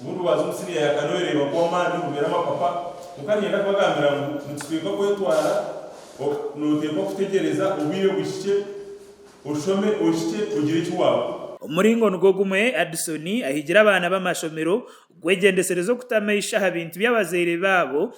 Obu ndwaaza omu Syria ya kare oreeba ngu amaani obugaine amapapa, kwonka niinyenda kubagambira ngu nikiteekwa kwetwaara, nooteekwa kutegyereza obwire buhikye, oshome, ohikye, ogire eki waakora. Omu muringo nigwo gumwe, Addison ahigire abaana b'amashomero kwegyendesereza okutamu eisho aha bintu by'abazaire baabo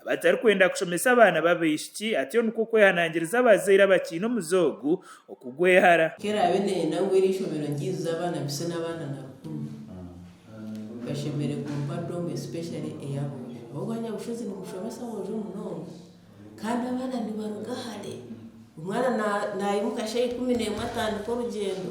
abatarikwenda kushomesa abaana b'abaishiki, atyo nikwo kwehanangiriza abazaire abakiine omuze ogu okugwehara. Ku eraabe neeyenda ngu eri ishomero ngiijuze abaana bise n'abaana na rukumi, bashemereire kumpa dom especially ey'aboojo ahabw'okuba Nyabushozi ni mushomesa mwojo munonga kandi abaana nibaruga hare, omwana naimuka shaaha ikumi n'emwe atandika orugyendo.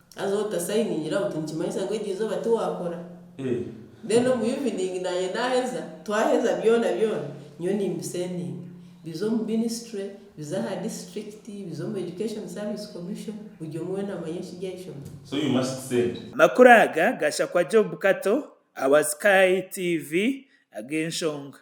Haza otasayiningira buti nikimanyisa ngu eryo eizooba tiwakora? Then omu evening naanye naaheza, twaheza byona byona nyowe nimbisendinga bize omu ministry, bize aha district, bize omu education service commission buri omwe weena amanye ekiri aha ishomero. Amakuru aga gashakwa Job Kato ahabwa Sky TV ag'enshonga.